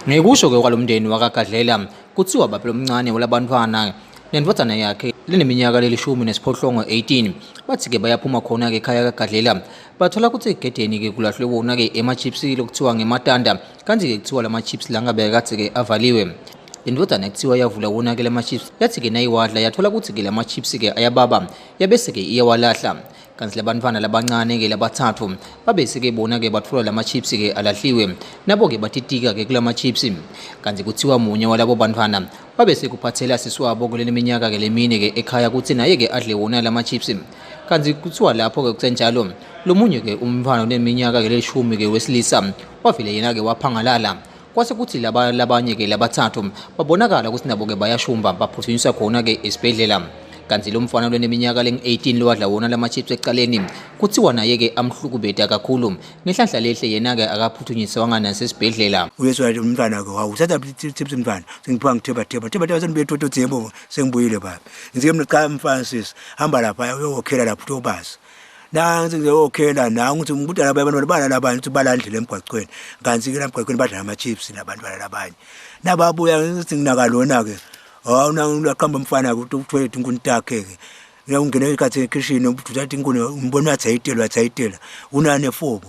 Ngekusho-ke kwalo mndeni wakaGadlela kuthiwa baba lomncane walabantwana nendodana yakhe lineminyaka lelishumi nesiphohlongo 18 bathi-ke bayaphuma khona-ke ekhaya kagadlela bathola ukuthi egedeni-ke kulahlwe wona-ke ema-chips lokuthiwa ngematanda kanti-ke kuthiwa la ma-chips la ngabe kade-ke avaliwe le ndodana kuthiwa yavula wona-ke la ma-chips yathi-ke nayiwadla yathola ukuthi-ke la ma-chips-ke ayababa yabese-ke iyawalahla kanti labantwana labancane-ke labathathu babese-ke bona-ke bathola la ma-chips-ke alahliwe nabo-ke batitika-ke kula ma-chips kanti kuthiwa munye walabo bantwana babese kuphathela sisi wabo kuleli minyaka-ke lemine-ke ekhaya ukuthi naye-ke adle wona la ma-chips kanti kuthiwa lapho-ke kusenjalo lo munye-ke umntwana oneminyaka-ke leshumi-ke wesilisa wavele yena-ke waphangalala kwase kuthi laba labanye ke labathathu babonakala ukuthi nabo ke bayashumba baphuthunyiswa khona ke esibhedlela kanti lo mfana lweneminyaka lengu-18 lowadla wona lama chips ekuqaleni kuthiwa naye-ke amhlukubeda kakhulu ngenhlanhla lehle yena-ke akaphuthunyiswanga nasesibhedlela uyezwa lo mntwana-ke wawu uthatha chips mntwana sengiphiwa ngithibatheba thibatheba senibuyethotothebo sengibuyile baba ngizike mniqala mfana sisi hamba lapha uyowokhela lapho uthi obazi nansi nje okhela oh, nangu ukuthi kudala abantwana balala abanye ukuthi balandlile emgwaqweni kanti ke lamgwaqweni badlala ama-chips nabantu balala abanye nababuya ngithi nginakalona-ke hawu naqamba umfana ukuthi uthwele inkuni takhe-ke ungena ikhathi ekhishini uthatha inkuni umbona uyathayitela uyathayitela unane fobo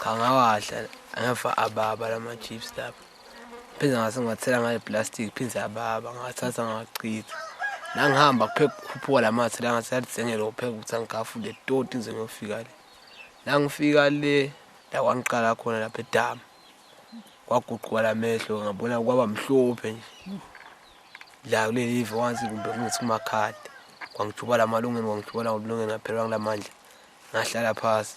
Cha ngawadla ngafa ababa lama chips lapha. Phinde ngase ngiwathela ngayo plastic phinde ababa ngathatha ngachitha. La ngihamba kupheka kukhuphuka lamathe la ngathi yalithengela ukupheka ukuthi angigafule toti ngize ngiyofika le. La ngifika le la kwangiqala khona lapha edamu. Kwaguquka lamehlo ngabona kwaba mhlophe nje. La kuleli ive wansi kumbe kungithi kumakhala. Kwangijubala amalungeni kwangijubala amalungeni ngaphelwa ngilamandla. Ngahlala phasi.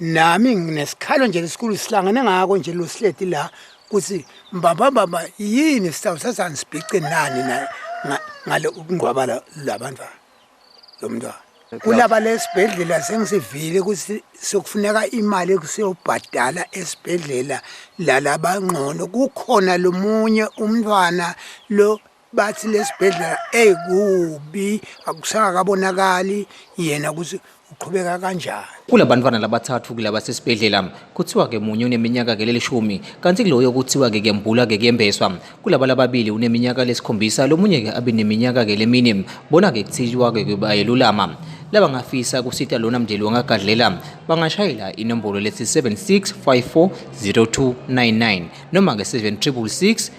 nami nginesikhalo nje lesikhulu sihlangene ngako nje losihleti la ukuthi mbaba baba yini sitawusasani sibhice nani na ngale ukungcwaba labantwana lo mntwana kulaba lesibhedlela sengisivile ukuthi sokufuneka imali ekusiyobhadala esibhedlela lalabangcono kukhona lomunye umntwana lo bathi lesibhedlela ekubi akusakabonakali yena ukuthi uqhubeka kanjani kulabantwana labathathu kulaba sesibhedlela kuthiwa ke munye uneminyaka ke lelishumi kanti kuloyo kuthiwa ke kuyambula ke kuyembeswa kulaba lababili uneminyaka lesikhombisa lomunye ke abe neminyaka ke lemini bona ke kuthiwa ke kubayelulama laba ngafisa kusita lona mndeli wangagadlela bangashayela inombolo lethi 76540299 noma ke 7666